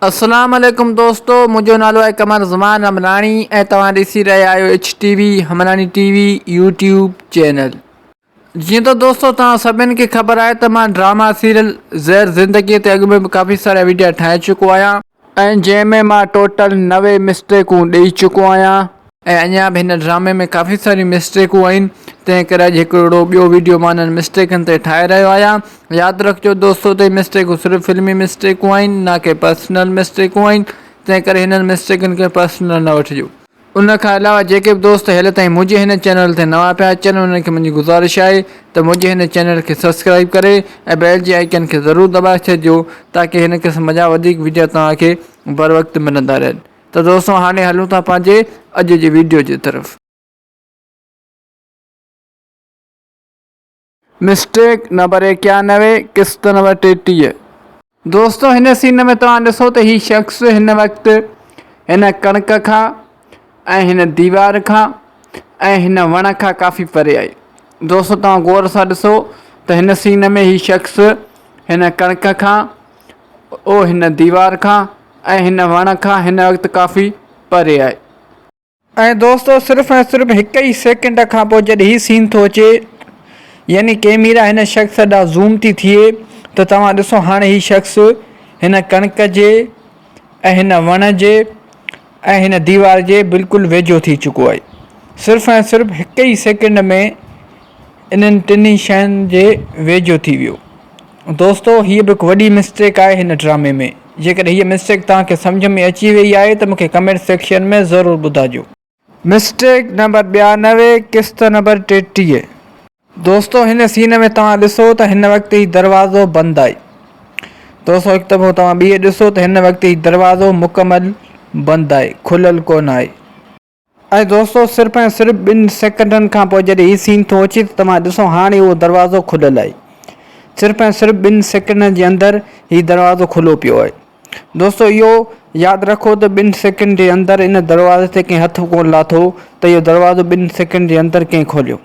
اسلام عليڪم دوستو منهنجو نالو آهي قمر زمان همراڻي ۽ توهان ڏسي رهيا آهيو H T V Hamrani T V YouTube channel جيئن ته دوستو توهان سڀني کي خبر آهي ته مان ڊراما سيريل زهر زندگي تي اڳ ۾ به ڪافي سارا ويڊيا ٺاهي چڪو آهيان ۽ جنهن ۾ مان ٽوٽل نوي مسٽيڪون ڏئي چڪو آهيان. ۽ اڃا به هن ڊرامي ۾ ڪافي ساريون مسٽيڪون آهن تنهن ڪري اڄ هڪڙو اهڙو ٻيو ويڊيو مان انهن مسٽيڪن تي ٺاهي رهيو آهيان ياد رکجو دوستو ته هي مسٽيڪون صرف فلمي مسٽيڪون آهن نه ڪي پرسنل مسٽيڪون آهن تنهن ڪري هنن مسٽيڪن کي پرسنل نه وٺجو. ان کان علاوه جيڪي به دوست هيل تائين منهنجي هن چينل تي نوان پيا اچن انهن کي منهنجي گذارش آهي ته منهنجي هن چينل کي سبسڪرائيب ڪري ۽ بيل جي آئيڪن کي ضرور دٻائي ڇڏجو تاڪي هن قسم جا وڌيڪ وڊيا توهان کي بروقت ملندا رهن. ته دوستو هاڻي هلون ٿا پنهنجي اڄ جي ويڊيو جي طرف. مسٽيڪ نمبر ايڪيانوي قسط نمبر ٽيٽيهه. دوستو هن سين ۾ توهان ڏسو ته هي شخص هن وقت هن ڪڻڪ کان ۽ هن ديوار کان ۽ هن وڻ کان ڪافي پري آهي دوستو توهان غور سان ڏسو ته هن سين ۾ هي شخص هن ڪڻڪ کان اهو هن ديوار کان ۽ هن وڻ کان هن وقت ڪافي پري آهي. ۽ دوستو صرف ۽ صرف هڪ ئي سيڪنڊ کان پوء جڏهن هي سين ٿو اچي يعني ڪيميرا هن شخص ڏانهن زوم ٿي ٿئي ته توهان ڏسو هاڻي هي شخص هن ڪڻڪ جي ۽ هن وڻ جي ۽ هن ديوار جي بلڪل ويجهو ٿي چڪو آهي صرف ۽ صرف هڪ ئي سيڪنڊ ۾ انهن ٽنهي شين جي ويجهو ٿي ويو دوستو هيء به هڪ وڏي مسٽيڪ آهي هن ڊرامي ۾ جيڪڏهن هيء مسٽيڪ توهان کي سمجهه ۾ اچي وئي آهي ته مون کي ڪمينٽ سيڪشن ۾ ضرور ٻڌاجو. مسٽيڪ نمبر ٻيانوي قسط نمبر ٽيٽيهه. دوستو هن سين ۾ توهان ڏسو ته هن وقت هي دروازو بند آهي دوستو هڪ دفعو توهان ٻيهي ڏسو ته هن وقت هي دروازو مڪمل بند آهي کليل ڪونه آهي ۽ دوستو صرف ۽ صرف ٻن سيڪنڊن کان پوء جڏهن هي سين ٿو اچي ته توهان ڏسو هاڻي اهو دروازو کليل آهي صرف ۽ صرف ٻن سيڪنڊن جي اندر هي دروازو کلو پيو آهي. دوستو اهو ياد رکو ته ٻن سيڪنڊ جي اندر ان دروازي تي ڪنهن هٿ ڪونه لاٿو ته اهو دروازو ٻن سيڪنڊ جي اندر ڪنهن کوليو.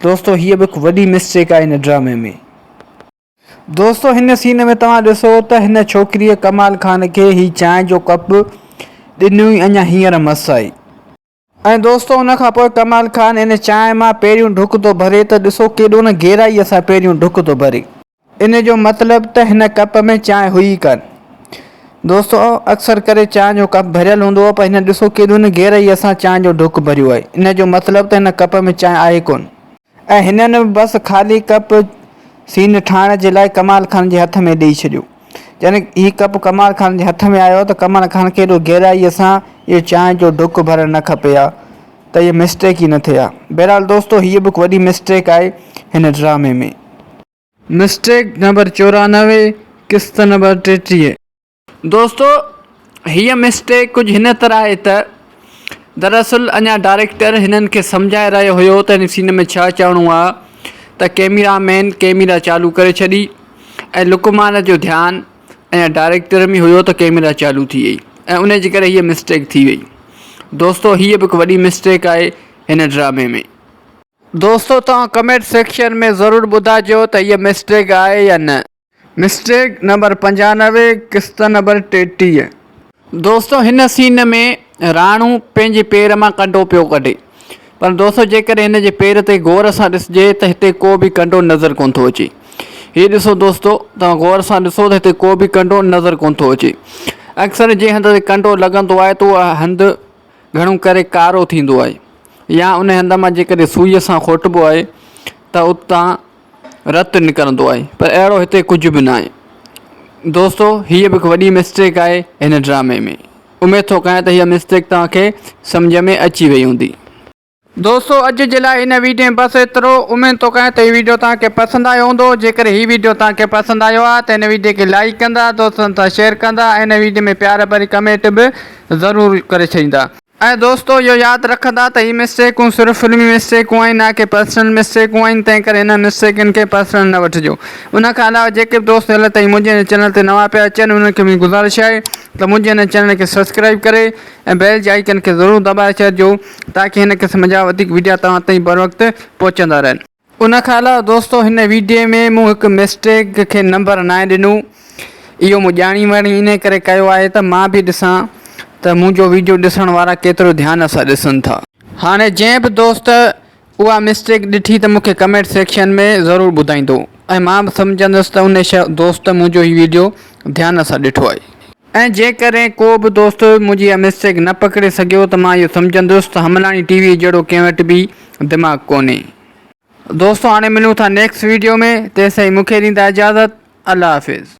دوستو هيء به هڪ وڏي مسٽيڪ آهي هن ڊرامي ۾. دوستو هن سين ۾ توهان ڏسو ته هن ڇوڪريء ڪمال خان کي هي چانهه جو ڪپ ڏنو ئي اڃا هينئر مس آئي. ۽ دوستو ان کان پوء ڪمال خان ان چانهه مان پهريون ڍڪ ٿو ڀري ته ڏسو ڪيڏو نه گهرائيء سان پهريون ڍڪ ٿو ڀري. ان جو مطلب ته هن ڪپ ۾ چانهه هئي ئي ڪانه. دوستو اڪثر ڪري چانهه جو ڪپ ڀريل هوندو هو پر هن ڏسو ڪيڏو نه گهرائيء سان چانهه جو ڍڪ ڀريو آهي. ان جو مطلب ته هن ڪپ ۾ چانهه آهي ڪونه. ۽ هنن بس خالي ڪپ سين ٺاهڻ جي لاء ڪمال خان جي هٿ ۾ ڏئي ڇڏيو. جڏهن هي ڪپ ڪمال خان جي هٿ ۾ آيو ته ڪمال خان کي ايڏو گهرائيء سان اهو چانهه جو ڍڪ ڀرڻ نه کپي ها ته اهي مسٽيڪ ئي نه ٿئي ها. بهرحال دوستو هيء به هڪ وڏي مسٽيڪ آهي هن ڊرامي ۾. مسٽيڪ نمبر چورانوي قسط نمبر ٽيٽيهه. دوستو هيء مسٽيڪ ڪجهه هن طرح آهي ته دراصل اڃا ڊائريڪٽر هنن کي سمجهائي رهيو هيو ته هن سين ۾ ڇا چئڻو آهي ته ڪيميرا مين ڪيميرا چالو ڪري ڇڏي ۽ لقمان جو ڌيان اڃا ڊائريڪٽر ۾ هيو ته ڪيميرا چالو ٿي وئي ۽ انهي جي ڪري هيء مسٽيڪ ٿي وئي دوستو هيء به هڪ وڏي مسٽيڪ آهي هن ڊرامي ۾. دوستو توهان ڪمينٽ سيڪشن ۾ ضرور ٻڌائجو ته هيء مسٽيڪ آهي يا نه. مسٽيڪ نمبر پنجانوي قسط نمبر ٽيٽيهه. دوستو هن سين ۾ راڻو پنهنجي پير مان ڪنڊو پيو ڪڍي پر دوستو جيڪڏهن هن جي پير تي غور سان ڏسجي ته هتي ڪو به ڪنڊو نظر ڪونه ٿو اچي هي ڏسو دوستو توهان غور سان ڏسو ته هتي ڪو به ڪنڊو نظر ڪونه ٿو اچي اڪثر جنهن هنڌ تي ڪنڊو لڳندو آهي ته اها هنڌ گهڻو ڪري ڪارو ٿيندو آهي يا ان هنڌ مان جيڪڏهن سوئي سان کوٽبو آهي ته اتان رت نڪرندو آهي پر اهڙو هتي ڪجهه به ناهي دوستو هيء به هڪ وڏي مسٽيڪ آهي هن ڊرامي ۾ اميد ٿو ڪيان ته هيء مسٽيڪ توهان کي سمجهه ۾ اچي وئي هوندي. دوستو اڄ جي لاء هن ويڊيو ۾ بس ايترو اميد ٿو ڪيان ته هي ويڊيو توهان کي پسند آيو هوندو جيڪڏهن هي ويڊيو توهان کي پسند آيو آهي ته هن ويڊيو کي لائيڪ ڪندا دوستن سان شيئر ڪندا ۽ هن ويڊيو ۾ پيار ڀري ڪمينٽ به ضرور ڪري ڇڏيندا. اي دوستو اهو ياد رکندا ته هي مسٽيڪون صرف فلمي مسٽيڪون آهن نه ڪي پرسنل مسٽيڪون آهن تنهن ڪري انهن مسٽيڪن کي پرسنل نه وٺجو ان کان علاوه جيڪي به دوست هيل تائين منهنجي هن چينل تي نوان پيا اچن انهن کي منهنجي گذارش آهي ته منهنجي هن چينل کي سبسڪرائيب ڪري ۽ بيل جي آئيڪن کي ضرور دٻائي ڇڏجو تاڪي هن قسم جا وڌيڪ وڊيا توهان تائين بروقت پهچندا رهن. ان کان علاوه دوستو هن ويڊيو ۾ مون هڪ مسٽيڪ کي نمبر ناهي ڏنو اهو مون ڄاڻي واڻي انهي ڪري ڪيو آهي ته مان به ڏسان ته منهنجو ويڊيو ڏسڻ وارا ڪيترو ڌيان سان ڏسن ٿا. هاڻي جنهن به دوست اها مسٽيڪ ڏٺي ته مون کي ڪمينٽ سيڪشن ۾ ضرور ٻڌائيندو ۽ مان به سمجهندس ته انهي دوست منهنجو هي ويڊيو ڌيان سان ڏٺو آهي. ۽ جيڪڏهن ڪو به دوست منهنجي اها مسٽيڪ نه پڪڙي سگهيو ته مان اهو سمجهندس ته حملاڻي ٽي وي جهڙو ڪنهن وٽ به دماغ ڪونهي. دوستو هاڻي ملون ٿا نيڪسٽ ويڊيو ۾ تيستائين مونکي ڏيندا اجازت الله حافظ.